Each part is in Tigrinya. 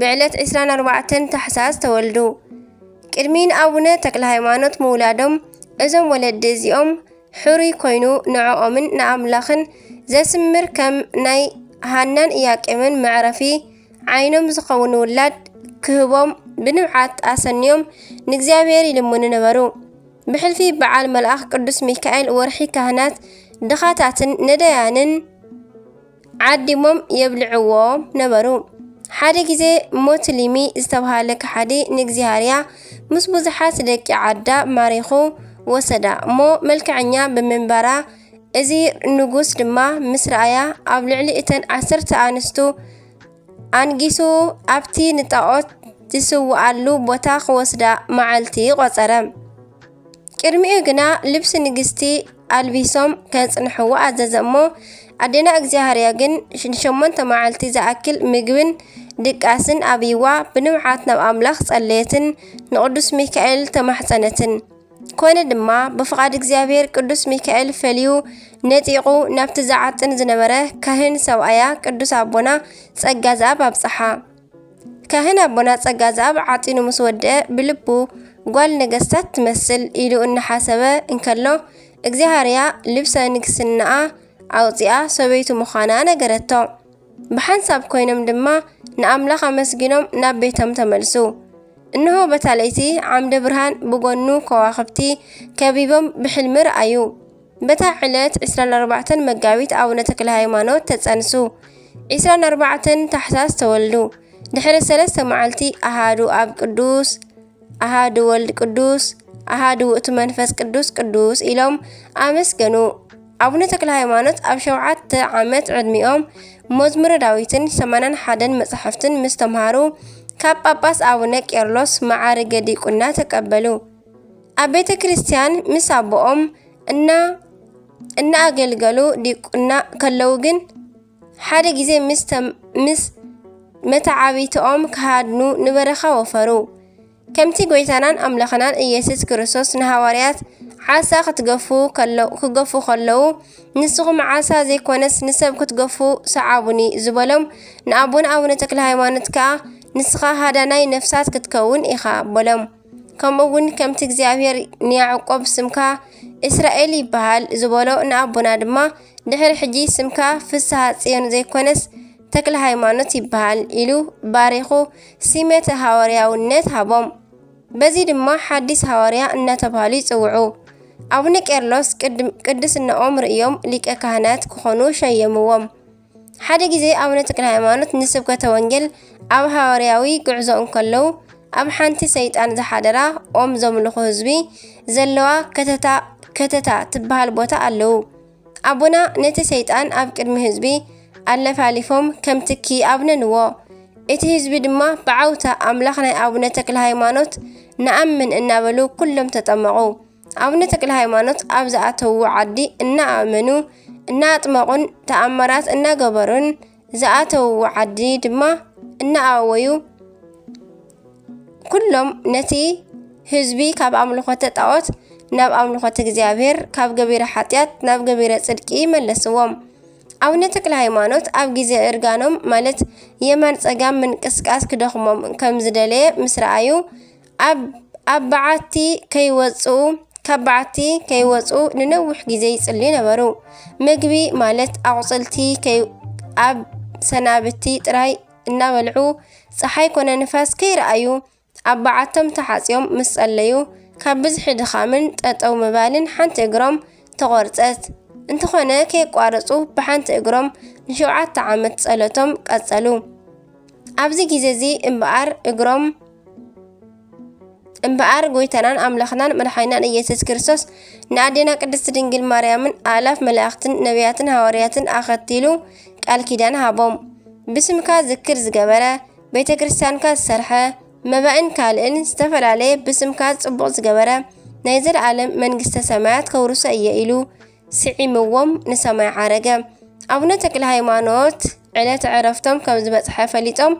ብዕለት ዕስራን ኣርባዕተን ታሕሳስ ተወልዱ። ቅድሚ ንኣቡነ ተክለሃይማኖት ምውላዶም እዞም ወለዲ እዚኦም ሕሩይ ኮይኑ ንዕኦምን ንኣምላኽን ዘስምር ከም ናይ ሃናን እያቄምን መዕረፊ ዓይኖም ዝኸውን ውላድ ክህቦም ብንብዓት ኣሰንዮም ንእግዚኣብሔር ይልምኑ ነበሩ። ብሕልፊ በዓል መልኣኽ ቅዱስ ሚካኤል ወርሒ ካህናት ድኻታትን ነዳያንን ዓዲሞም የብልዕዎ ነበሩ። ሓደ ግዜ ሞትሊሚ ዝተብሃለ ከሓዲ ንእግዚሃርያ ምስ ብዙሓት ደቂ ዓዳ ማሪኹ ወሰዳ እሞ መልከዐኛ ብምንባራ እዚ ንጉስ ድማ ምስ ረኣያ ኣብ ልዕሊ እተን ዓሰርተ ኣንስቱ ኣንጊሱ ኣብቲ ንጣዖት ዝስውኣሉ ቦታ ክወስዳ መዓልቲ ቖጸረ። ቅድሚኡ ግና ልብሲ ንግስቲ ኣልቢሶም ከጽንሕዎ ኣዘዘ እሞ ኣዴና እግዚኣብሃርያ ግን ንሸሞንተ መዓልቲ ዝኣክል ምግብን ድቃስን ኣብይዋ ብንብዓት ናብ ኣምላኽ ጸለየትን ንቕዱስ ሚካኤል ተማሕጸነትን። ኮነ ድማ ብፍቓድ እግዚኣብሔር ቅዱስ ሚካኤል ፈልዩ ነጢቑ ናብቲ ዝዓጥን ዝነበረ ካህን ሰብኣያ ቅዱስ ኣቦና ጸጋ ዝኣብ ኣብጽሓ። ካህን ኣቦና ጸጋ ዝኣብ ዓጢኑ ምስ ወድአ ብልቡ ጓል ነገስታት ትመስል ኢሉ እናሓሰበ እንከሎ እግዚኣብሔርያ ልብሰ ንግስናኣ ኣውፂኣ ሰበይቱ ምዃና ነገረቶ። ብሓንሳብ ኮይኖም ድማ ንኣምላኽ ኣመስጊኖም ናብ ቤቶም ተመልሱ። እንሆ በታ ለይቲ ዓምደ ብርሃን ብጎኑ ከዋኽብቲ ከቢቦም ብሕልሚ ረኣዩ። በታ ዕለት ዕስራን ኣርባዕተን መጋቢት ኣቡነ ተክለ ሃይማኖት ተጸንሱ። ዕስራን ኣርባዕተን ታሕሳስ ተወልዱ። ድሕሪ ሰለስተ መዓልቲ ኣሃዱ ኣብ ቅዱስ ኣሃዱ ወልድ ቅዱስ ኣሃዱ ውእቱ መንፈስ ቅዱስ ቅዱስ ኢሎም ኣመስገኑ። ኣቡነ ተክለ ሃይማኖት ኣብ ሸውዓተ ዓመት ዕድሚኦም መዝሙረ ዳዊትን ሰማንያን ሓደን መጻሕፍትን ምስ ተምሃሩ ካብ ጳጳስ ኣቡነ ቄርሎስ መዓርገ ዲቁና ተቀበሉ። ኣብ ቤተ ክርስቲያን ምስ ኣቦኦም እና እናኣገልገሉ ዲቁና ከለው ግን ሓደ ግዜ ምስ መተዓብይትኦም ክሃድኑ ንበረኻ ወፈሩ። ከምቲ ጐይታናን ኣምላኽናን ኢየሱስ ክርስቶስ ንሃዋርያት ዓሳ ክትገፉ ክገፉ ከለዉ ንስኹም ዓሳ ዘይኮነስ ንሰብ ክትገፉ ሰዓቡኒ ዝበሎም ንኣቦና ኣቡነ ተክለሃይማኖት ከኣ ንስኻ ሃዳናይ ነፍሳት ክትከውን ኢኻ በሎም። ከምኡውን ከምቲ እግዚኣብሔር ንያዕቆብ ስምካ እስራኤል ይበሃል ዝበሎ ንኣቦና ድማ ድሕሪ ሕጂ ስምካ ፍስሃ ጽዮን ዘይኮነስ ተክለ ሃይማኖት ይበሃል ኢሉ ባሪኹ ሲመተ ሃዋርያውነት ሃቦም። በዚ ድማ ሓዲስ ሃዋርያ እናተባህሉ ይጽውዑ። ኣቡነ ቄርሎስ ቅድስናኦም ርእዮም ሊቀ ካህናት ክኾኑ ሸየምዎም። ሓደ ግዜ ኣቡነ ተክለሃይማኖት ንስብከተ ወንጌል ኣብ ሃዋርያዊ ጉዕዞ እንከለዉ ኣብ ሓንቲ ሰይጣን ዝሓደራ ኦም ዘምልኹ ህዝቢ ዘለዋ ከተታ ከተታ ትበሃል ቦታ ኣለዉ። ኣቡና ነቲ ሰይጣን ኣብ ቅድሚ ህዝቢ ኣለፋሊፎም ከም ትኪ ኣብነንዎ። እቲ ህዝቢ ድማ ብዓውታ ኣምላኽ ናይ ኣቡነ ተክለሃይማኖት ንኣምን እናበሉ ኩሎም ተጠመቑ። ኣቡነ ተክለሃይማኖት ኣብ ዝኣተውዎ ዓዲ እናኣመኑ፣ እናኣጥመቑን ተኣምራት እናገበሩን ዝኣተውዎ ዓዲ ድማ እናኣወዩ ኩሎም ነቲ ህዝቢ ካብ ኣምልኾተ ጣዖት ናብ ኣምልኾተ እግዚኣብሔር ካብ ገቢረ ሓጢኣት ናብ ገቢረ ጽድቂ መለስዎም። ኣቡነ ተክለ ሃይማኖት ኣብ ግዜ እርጋኖም ማለት የማን ጸጋም ምንቅስቃስ ክደኽሞም ከም ዝደለየ ምስ ረኣዩ ኣብ በዓቲ ከይወጽኡ ካብ በዓቲ ከይወጽኡ ንነዊሕ ግዜ ይጽልዩ ነበሩ። ምግቢ ማለት ኣቝጽልቲ ኣብ ሰናብቲ ጥራይ እናበልዑ፣ ጸሓይ ኮነ ንፋስ ከይረኣዩ ኣብ በዓቶም ተሓጽዮም ምስ ጸለዩ፣ ካብ ብዝሒ ድኻምን ጠጠው ምባልን ሓንቲ እግሮም ተቖርጸት። እንተኾነ ከየቋረጹ ብሓንቲ እግሮም ንሸውዓተ ዓመት ጸሎቶም ቀጸሉ። ኣብዚ ግዜ እዚ እምበኣር እግሮም እምበኣር ጎይታናን ኣምላኽናን መድሓኒናን ኢየሱስ ክርስቶስ ንኣዴና ቅድስት ድንግል ማርያምን ኣእላፍ መላእኽትን ነቢያትን ሃዋርያትን ኣኸቲሉ ቃል ኪዳን ሃቦም። ብስምካ ዝክር ዝገበረ፣ ቤተ ክርስቲያንካ ዝሰርሐ፣ መባእን ካልእን ዝተፈላለየ ብስምካ ጽቡቕ ዝገበረ ናይ ዘለዓለም መንግስተ ሰማያት ከውርሶ እየ ኢሉ ስዒምዎም ንሰማይ ዓረገ። ኣቡነ ተክለሃይማኖት ዕለተ ዕረፍቶም ከም ዝበጽሐ ፈሊጦም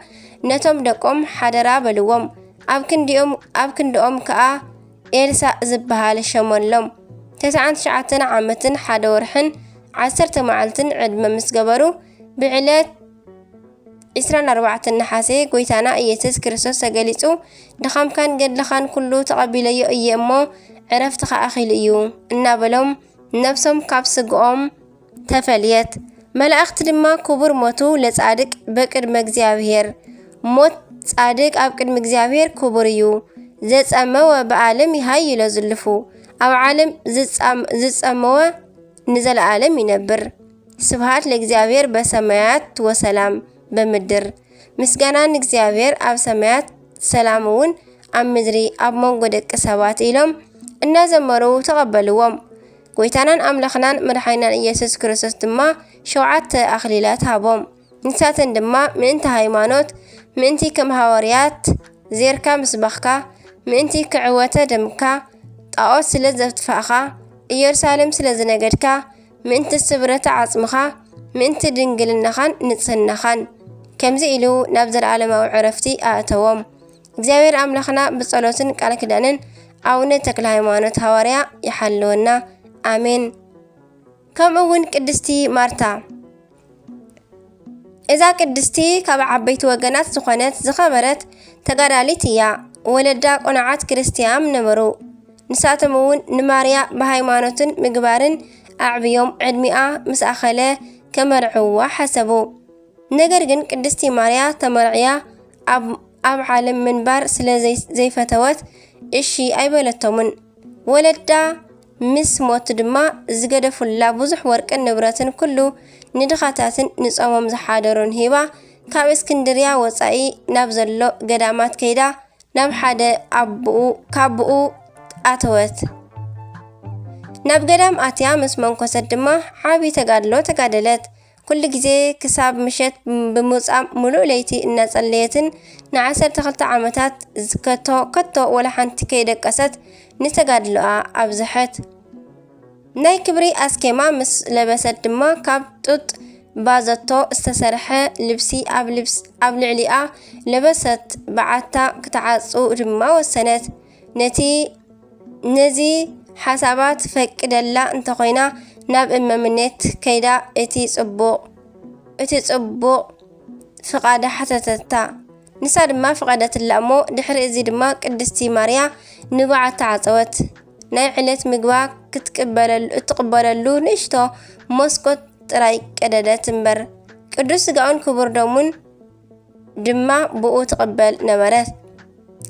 ነቶም ደቆም ሓደራ በልዎም። ኣብ ክንዲኦም ኣብ ክንድኦም ከኣ ኤልሳእ ዝበሃል ሸሞሎም። ተስዓን ትሽዓተን ዓመትን ሓደ ወርሕን ዓሰርተ መዓልትን ዕድመ ምስ ገበሩ ብዕለት ዕስራን ኣርባዕተን ነሓሴ ጎይታና ኢየስስ ክርስቶስ ተገሊጹ ድኻምካን ገድልኻን ኩሉ ተቐቢለዮ እየ እሞ ዕረፍትኻ ኣኺሉ እዩ እናበሎም ነፍሶም ካብ ስግኦም ተፈልየት። መላእኽቲ ድማ ክቡር ሞቱ ለጻድቅ በቅድመ እግዚኣብሔር ሞት ጻድቅ ኣብ ቅድሚ እግዚኣብሔር ክቡር እዩ ዘጸመወ ብኣለም ይሃይሎ ዝልፉ ኣብ ዓለም ዝጸመወ ንዘለዓለም ይነብር። ስብሃት ለእግዚኣብሔር በሰማያት ወሰላም በምድር ምስጋና ንእግዚኣብሔር ኣብ ሰማያት ሰላም እውን ኣብ ምድሪ ኣብ መንጎ ደቂ ሰባት ኢሎም እናዘመሩ ተቐበልዎም። ጎይታናን ኣምላኽናን መድሓኒናን ኢየሱስ ክርስቶስ ድማ ሸውዓተ ኣኽሊላት ሃቦም። ንሳተን ድማ ምእንቲ ሃይማኖት፣ ምእንቲ ከም ሃዋርያት ዜርካ ምስባኽካ፣ ምእንቲ ክዕወተ ደምካ፣ ጣኦት ስለ ዘትፋእኻ፣ ኢየሩሳሌም ስለ ዝነገድካ፣ ምእንቲ ስብረተ ዓጽምኻ፣ ምእንቲ ድንግልናኻን ንጽህናኻን። ከምዚ ኢሉ ናብ ዘለዓለማዊ ዕረፍቲ ኣእተዎም። እግዚኣብሔር ኣምላኽና ብጸሎትን ቃል ኪዳንን ኣቡነ ተክለሃይማኖት ሃዋርያ ይሓልወና። ኣሜን። ከምኡ እውን ቅድስቲ ማርታ እዛ ቅድስቲ ካብ ዓበይቲ ወገናት ዝኾነት ዝኸበረት ተጋዳሊት እያ። ወለዳ ቁኑዓት ክርስትያም ነበሩ። ንሳቶም እውን ንማርያ ብሃይማኖትን ምግባርን ኣዕብዮም ዕድሚኣ ምስ ኣኸለ ከመርዕውዋ ሓሰቡ። ነገር ግን ቅድስቲ ማርያ ተመርዕያ ኣብ ኣብ ዓለም ምንባር ስለ ዘይፈተወት እሺ ኣይበለቶምን። ወለዳ ምስ ሞት ድማ ዝገደፉላ ብዙሕ ወርቅን ንብረትን ኩሉ ንድኻታትን ንጾሞም ዝሓደሩን ሂባ ካብ እስክንድርያ ወጻኢ ናብ ዘሎ ገዳማት ከይዳ ናብ ሓደ ኣቡኡ ካቡኡ ኣተወት። ናብ ገዳም ኣትያ ምስ መንኮሰት ድማ ዓቢ ተጋድሎ ተጋደለት። ኩሉ ግዜ ክሳብ ምሸት ብምውጻእ ምሉእ ለይቲ እናጸለየትን ንዓሰርተ ክልተ ዓመታት ዝከቶ ከቶ ወላ ሓንቲ ከይደቀሰት ንተጋድሎኣ ኣብዝሐት። ናይ ክብሪ ኣስኬማ ምስ ለበሰት ድማ ካብ ጡጥ ባዘቶ ዝተሰርሐ ልብሲ ኣብ ልዕሊኣ ለበሰት፣ በዓታ ክትዓጹ ድማ ወሰነት። ነቲ ነዚ ሓሳባ ትፈቅደላ እንተኾይና ናብ እመምኔት ከይዳ እቲ ጽቡቕ እቲ ጽቡቕ ፍቓዳ ሓተተታ። ንሳ ድማ ፍቐደትላ እሞ ድሕሪ እዚ ድማ ቅድስቲ ማርያ ንብዓ ተዓጸወት። ናይ ዕለት ምግባ ክትቅበለሉ እትቕበለሉ ንእሽቶ መስኮት ጥራይ ቀደደት እምበር ቅዱስ ስጋኡን ክቡር ደሙን ድማ ብኡ ትቕበል ነበረት።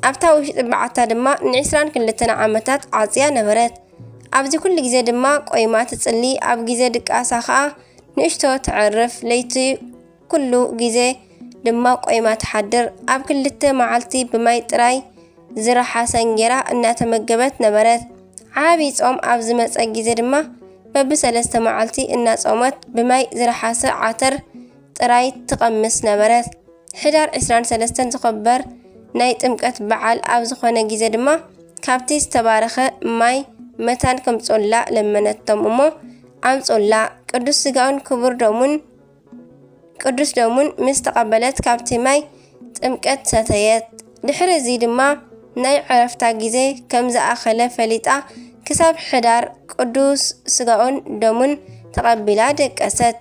ኣብታ ውሽጢ በዓታ ድማ ንዒስራን ክልተን ዓመታት ዓጽያ ነበረት። ኣብዚ ኩሉ ግዜ ድማ ቆይማ ትጽሊ፣ ኣብ ግዜ ድቃሳ ኸኣ ንእሽቶ ተዕርፍ፣ ለይቲ ኩሉ ግዜ ድማ ቆይማ ትሓድር። ኣብ ክልተ መዓልቲ ብማይ ጥራይ ዝረሓሰ እንጌራ እናተመገበት ነበረት። ዓቢ ጾም ኣብ ዝመጸ ግዜ ድማ በብሰለስተ መዓልቲ እናጾመት ብማይ ዝረሓሰ ዓተር ጥራይ ትቐምስ ነበረት። ሕዳር ዕስራን ሰለስተን ዝኸበር ናይ ጥምቀት በዓል ኣብ ዝኾነ ጊዘ ድማ ካብቲ ዝተባረኸ ማይ መታን ከምጽኡላ ለመነቶም እሞ ኣምጽኡላ። ቅዱስ ስጋኡን ክቡር ደሙን ቅዱስ ደሙን ምስ ተቐበለት ካብቲ ማይ ጥምቀት ሰተየት። ድሕሪ እዚ ድማ ናይ ዕረፍታ ጊዘ ከም ዝኣኸለ ፈሊጣ ክሳብ ሕዳር ቅዱስ ስጋኡን ደሙን ተቐቢላ ደቀሰት።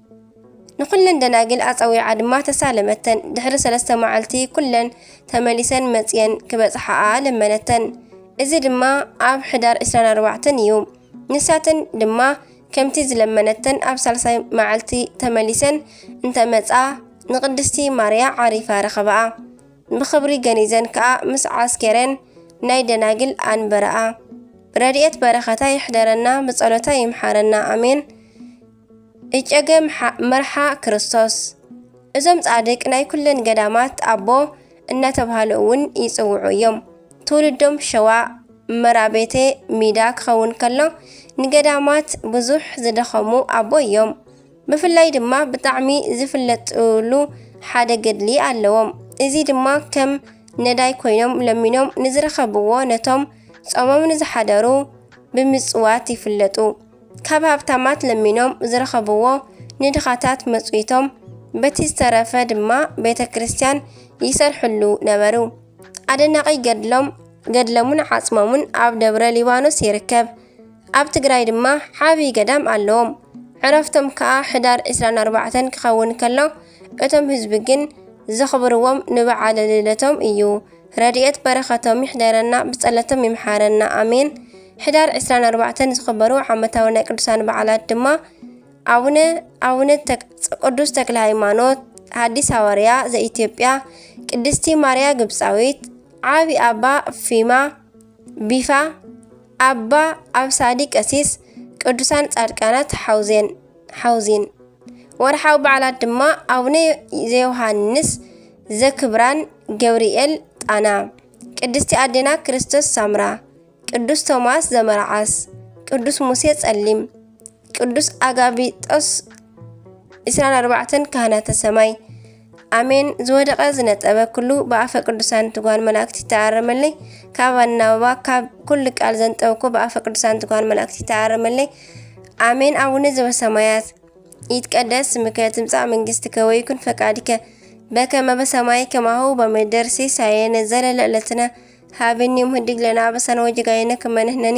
ንዅለን ደናግል ኣጸዊዓ ድማ ተሳለመተን። ድሕሪ ሰለስተ መዓልቲ ኵለን ተመሊሰን መጺኤን ክበጽሓኣ ለመነተን። እዚ ድማ ኣብ ሕዳር ዕስራን ኣርባዕተን እዩ። ንሳተን ድማ ከምቲ ዝለመነተን ኣብ ሳልሳይ መዓልቲ ተመሊሰን እንተ መጻ ንቅድስቲ ማርያ ዓሪፋ ረኸባኣ። ብኽብሪ ገኒዘን ከኣ ምስ ዓስኬረን ናይ ደናግል ኣንበራኣ። ረድኤት በረኸታ ይሕደረና ብጸሎታ ይምሓረና ኣሜን። እጨገ መርሓ ክርስቶስ እዞም ጻድቅ ናይ ኩለን ገዳማት ኣቦ እናተብሃሉ እውን ይጽውዑ እዮም። ትውልዶም ሸዋ መራቤቴ ሚዳ ክኸውን ከሎ ንገዳማት ብዙሕ ዝደኸሙ ኣቦ እዮም። ብፍላይ ድማ ብጣዕሚ ዝፍለጥሉ ሓደ ገድሊ ኣለዎም። እዚ ድማ ከም ነዳይ ኮይኖም ለሚኖም ንዝረኸብዎ ነቶም ጾሞም ንዝሓደሩ ብምጽዋት ይፍለጡ። ካብ ሃብታማት ለሚኖም ዝረኸብዎ ንድኻታት መጽዊቶም፣ በቲ ዝተረፈ ድማ ቤተ ክርስቲያን ይሰርሕሉ ነበሩ። ኣደናቒ ገድሎም፣ ገድለሙን ዓጽሞሙን ኣብ ደብረ ሊባኖስ ይርከብ። ኣብ ትግራይ ድማ ዓብዪ ገዳም ኣለዎም። ዕረፍቶም ከኣ ሕዳር ዕስራን ኣርባዕተን ክኸውን ከሎ፣ እቶም ህዝቢ ግን ዘኽብርዎም ንበዓለ ልደቶም እዩ። ረድኤት በረከቶም ይሕደረና ብጸለቶም ይምሓረና ኣሜን። ሕዳር ዕስራን ኣርባዕተን ዝኽበሩ ዓመታዊ ናይ ቅዱሳን በዓላት ድማ ኣቡነ ኣቡነ ቅዱስ ተክለ ሃይማኖት ሐዲስ ሐዋርያ ዘኢትዮጵያ፣ ቅድስቲ ማርያ ግብፃዊት፣ ዓቢ ኣባ ፊማ ቢፋ፣ ኣባ ኣብሳዲ ቀሲስ፣ ቅዱሳን ጻድቃናት ሐውዜን ሐውዚን ወርሓዊ በዓላት ድማ ኣቡነ ዘዮሃንስ ዘክብራን ገብርኤል ጣና፣ ቅድስቲ ኣዴና ክርስቶስ ሳምራ፣ ቅዱስ ቶማስ ዘመርዓስ፣ ቅዱስ ሙሴ ጸሊም፣ ቅዱስ ኣጋቢጦስ፣ ዕስራን ኣርባዕተን ካህናተ ሰማይ፣ ኣሜን ዝወደቐ ዝነጠበ ኩሉ ብኣፈ ቅዱሳን ትጓን መላእክት ይተኣረመለይ ካብ ኣናብባ ካብ ኩሉ ቃል ዘንጠብኩ ብኣፈ ቅዱሳን ትጓን መላእክት ይተኣረመለይ ኣሜን ኣቡነ ዘበሰማያት ይትቀደስ ስምከ ትምጻእ መንግስትከ ወይኩን ፈቃድከ በከመ በሰማይ ከማሁ በምድር ሲሳየነ ዘለለ ዕለትነ ሀበኒ ዮም ህድግ ለነ አበሳነ ወጌጋየነ ከመ ንሕነኒ